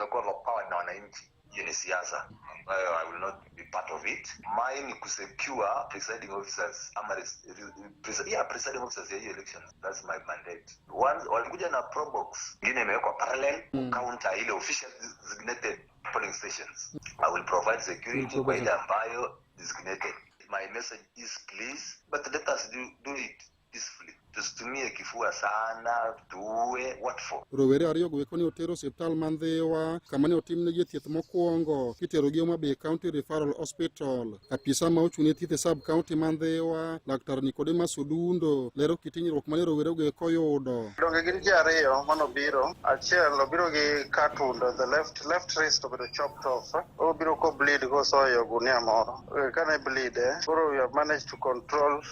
tumekuwa overpowered na wananchi hiyo ni siasa ambayo i will not be part of it mine ni kusecure presiding officers ama res, re, pres, yeah, presiding officers ya hiyo election that's my mandate One, walikuja na probox ingine imewekwa parallel mm. counter ile official designated polling stations i will provide security kwa ile ambayo designated my message is please but let us do, do it peacefully. Tusitumie kifua sana, tuue, what for? Rowere ariyo go eko ne oter osiptal man Dhiwa kama ne otimnegi thieth mokwongo kiterogi Homa Bay County Referral Hospital. Apisa ma ochung' ne thieth e sub county man Dhiwa, Laktar Nicodemus Odundo lero kit hinyruok mane rowere go eko oyudo. Donge gin ji ariyo mane obiro, achiel obiro gi cut wound, the left left wrist obedo chopped off, obiro ko bleed kosoyo gunia moro. Eh, Kane bleed, eh, koro we have managed to control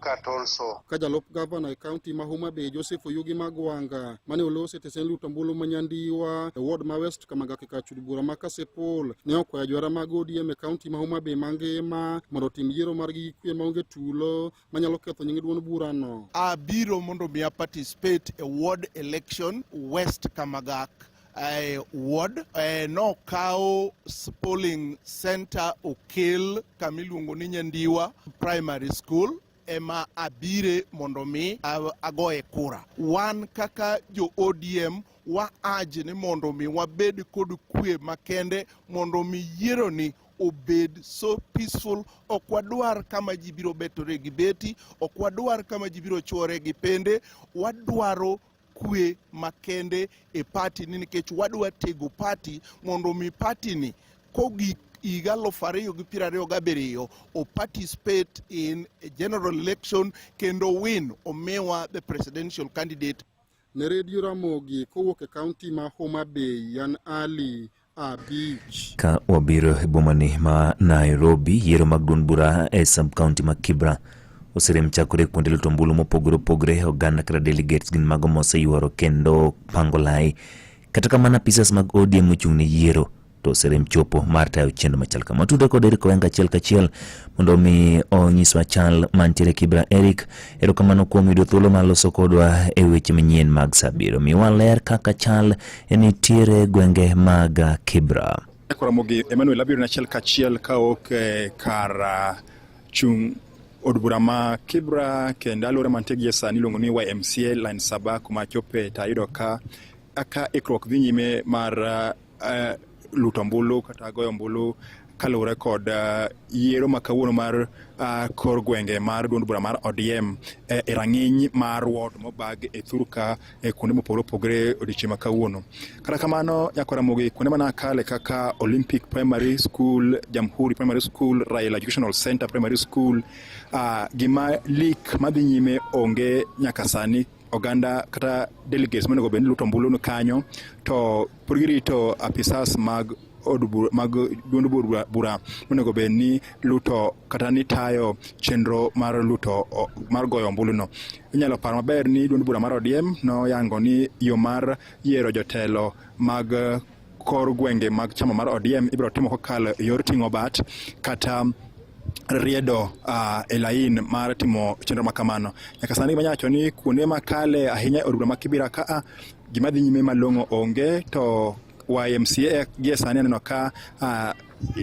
cut also. Ka jalup gavana e kaunti ma Homa Bay Joseph Oyugi Magwanga mane olosi e tesend luto ombulu ma Nyandiwa e ward ma West Kamagaki ka chud bura ma Kasipul ne okwayo jwara mag ODM e kaunti ma Homa Bay mangima mondo otim yiero margi gi kwe maonge tulo manyalo ketho nying duond burano. Abiro mondo mi a participate e ward election West Kamagak eh, ward eh, nokawo polling center okel kama iluongo ni Nyandiwa Primary School ema abire mondo mi agoye kura. Wan kaka jo ODM wa aje ni mondo mi wabed kod kwe makende mondo mi yiero ni obed so peaceful. Ok wadwar kama ji biro betore gi beti, ok wadwar kama ji biro chwore gi pende. Wadwaro kwe makende e pati ni nikech wadwa tego pati mondo mi pati ni kogik higa aluf ariyo gi piero ariyo gabiriyo o participate in a general election kendo win omiwa the presidential candidate ne redio ramogi kowuok e kaunti ma homa bay yan ali Ka wabiro e bomani ma Nairobi, yiero mag duond bura e sub county ma Kibra oserem chakore kuonde luto ombulu mopogore opogore. Oganda kata delegates gin mago moseyuoro kendo pango lai. Kata kamano apisas mag ODM ochung' ne yiero to oserem chopo mar tayo chenro machal kama. Watudo kod Eric Owenga achiel kachiel mondo omi onyiswa chal mantiere Kibra. Eric, erokamano kuom yudo thuolo mar loso kodwa e weche manyien mag Sabiro. Miwa ler kaka chal Nitiere gwenge mag Kibra. Koramo gi Emmanuel abiro nachiel kachiel ka ok eh, kar ah, chung' od bura ma Kibra kendo alwora mantie gie sani iluongo ni YMCA line saba kuma chope to ayudo ka ka ikruok dhi nyime mar ah, eh, luto ombulu kata goyo ombulu kaluwore kod uh, yiero ma kawuono mar uh, kor gwenge mar duond bura mar ODM eh, e rang'iny mar ward mobag e thurka e kuonde mopogore opogore odiochieng' ma kawuono. Kata kamano Nyako Ramogi kuonde mana kale kaka Olympic Primary School, Jamhuri Primary School, Raila Educational Center Primary School uh, gima lik madhi nyime onge nyaka sani oganda kata delegates monego bed ni luto ombulu ni kanyo to pod girito apisas mag od bura mag duond bura- bura monego bed ni luto kata ni tayo chenro mar luto o- mar goyo ombuluno inyalo paro maber ni duond bura mar odiem noyango ni yo mar yiero jotelo mag eh, kor gwenge mag chama mar ODM ibiro timo kokalo e yor ting'o bat kata riedo uh, e lain mar timo chenro ma kamano nyaka sani gima nyacho ni kuonde makale ahinya e odbura ma kibira kaa gima dhi nyime malong'o onge to YMCA gie sani aneno ka uh,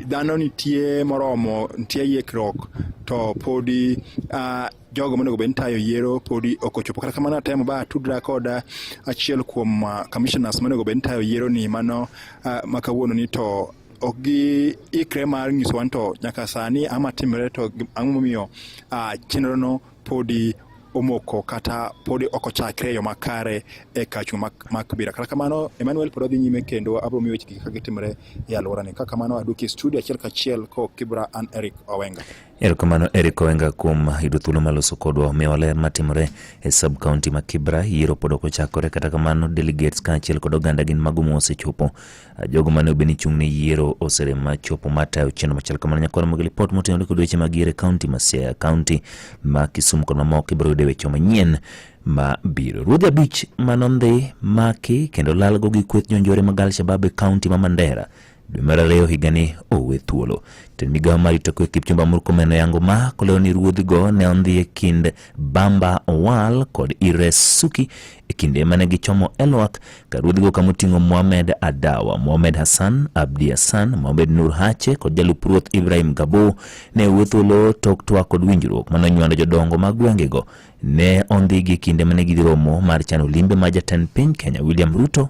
dhano nitie moromo nitie yekruok to podi uh, jogo monego bed ni tayo yiero podi ok ochopo. Kata kamano atemo ba tudra koda achiel kuom uh, commissioners monego bed ni tayo yiero ni mano uh, ma kawuono ni to ok gi ikre mar nyiso wan to nyaka sani ama timre to ang'o momiyo uh, chenro no podi omoko kata podi ok ochakre e yo makare e kachu mak, mak bira kata kamano Emmanuel pod odhi nyime kendo abro miyo weche kaka gitimre e alworani kaka kamano aduki studio achiel kachiel ko Kibra an Eric Owenga Erokamano Eric Owenga kuom yudo thuolo maloso kodwa omiyo waler matimore e sub county ma Kibra. Yiero pod ok ochakore, kata kamano delegates kaachiel kod oganda gin mago mosechopo. Ah, jogo mane obed ni chung' ne yiero oserem machopo matayo chenro machal kamano. Nyakwar mogi lipot motenore kod weche mag yiero e kaunti ma Siaya, kaunti ma Kisumu kod mamoko ibiro yude weche manyien ma biro. Ruodhi abich manondhi maki kendo lalgo gi kweth jonjore mag Alshabab e kaunti ma Mandera dwe mar ariyo higani owe thuolo jatend migawo mar rito kwe kipchumba murkomen oyango ma kolero ni ruodhigo ne ondhi e kind bamba owal kod ires suki e kinde mane gichomo elwak ka ruodhigo kama oting'o mohamed adawa mohamed hassan abdi hassan mohamed nur hache kod jalup ruoth ibrahim gabo ne owe thuolo tok twak kod winjruok mane onywando jodongo mag gwengego ne ondhigi e kinde mane gidhi romo mar chano limbe ma jatend piny kenya william ruto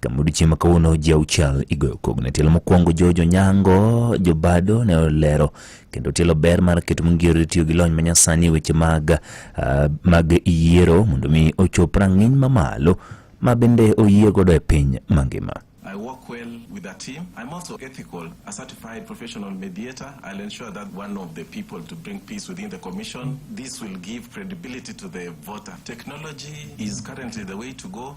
Kama odiechieng' ma kawuono ji auchiel igoyo kogno. Tielo mokwongo George Onyango Jobado ne olero kendo tielo ber mar keto mongirore tiyo gi lony manyasani e weche mag, uh, mag yiero mondo mi ochop rang'iny mamalo ma bende oyie godo e piny mangima. I work well with the team. I'm also ethical, a certified professional mediator. I'll ensure that one of the people to bring peace within the commission. This will give credibility to the voter. Technology is currently the way to go.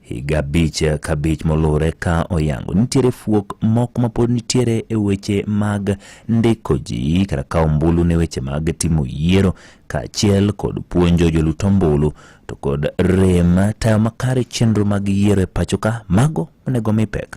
Higa abich ka abich moluwore ka oyango nitiere fuok moko mapod nitiere e weche mag ndiko ji kata ka ombulu ne weche mag timo yiero kaachiel kod puonjo jolut ombulu to kod rem tayo makare chenro mag yiero e pachoka mago onego mi pek.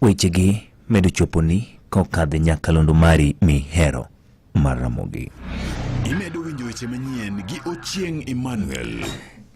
Wechegi medo choponi kokadhe nyakalondo mari mihero mar Ramogi. Imedo winjo weche manyien gi Ochieng Emmanuel.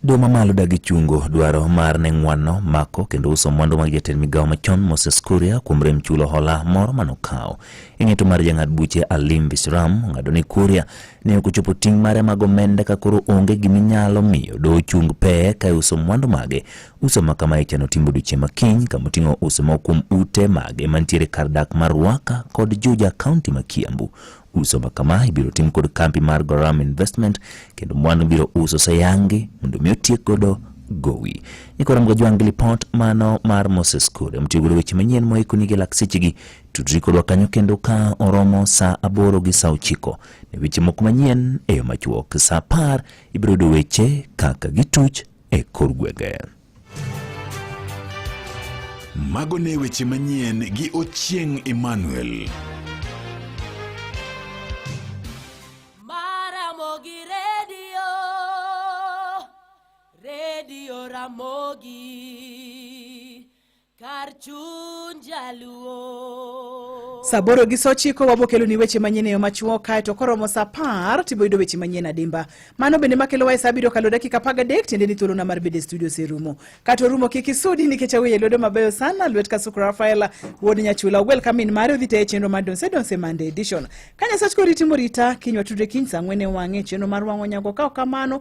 Doho mamalo dagi chungo dwaro mar ne ng'wanno mako kendo uso mwandu mag jatend migawo machon Moses Kuria kuom rem chulo hola moro manokawo. Ing'eto mar jang'ad buche Alim Visram ong'ado ni Kuria ne ok ochopo ting' mare mag omenda ka koro onge gima inyalo miyo do ochung pee kae uso mwandu mage uso ma kama ichano timbo odiechieng' ma kiny kama oting'o uso moko kuom ute mage mantiere kar dak mar Ruaka kod Juja kaunti ma Kiambu uso ma kama ibiro tim kod kambi mar Goram Investment kendo mwandu biro uso sayangi mondo mi otiek godo gowi ikora mgojwangi lipot mano mar Moses Kure mtiyo godo weche manyien moikoni gi laksechegi Tudri kodwa kanyo kendo ka oromo saa aboro gi saa ochiko ne weche moko manyien e yo machuok. Saa apar ibiro yudo weche kaka gituch e kor gwenge. Mago ne weche manyien gi Ochieng' Emmanuel. Maramogi Radio, Radio Ramogi. Kar chuny jaluo. Saa aboro gi saa ochiko wabokelo ni weche manyien e yo machuok kae to koromo saa apar to iboyudo weche manyien adimba. Mano bende makelo wae saa abiriyo okalo dakika apar gadek tiende ni thuolona mar bedo e studio oserumo. Kata orumo kik isudi nikech aweye lwedo mabeyo sana lwet Kasuku Rafael wuod Nyachula ogwel ka min mare odhi teye chenro mar Donse Donse Monday edition. Ka Nyasach koriti morita kinywa tudre kiny saa ang'wen e wang'e chenro mar wang'o nyago ka ok kamano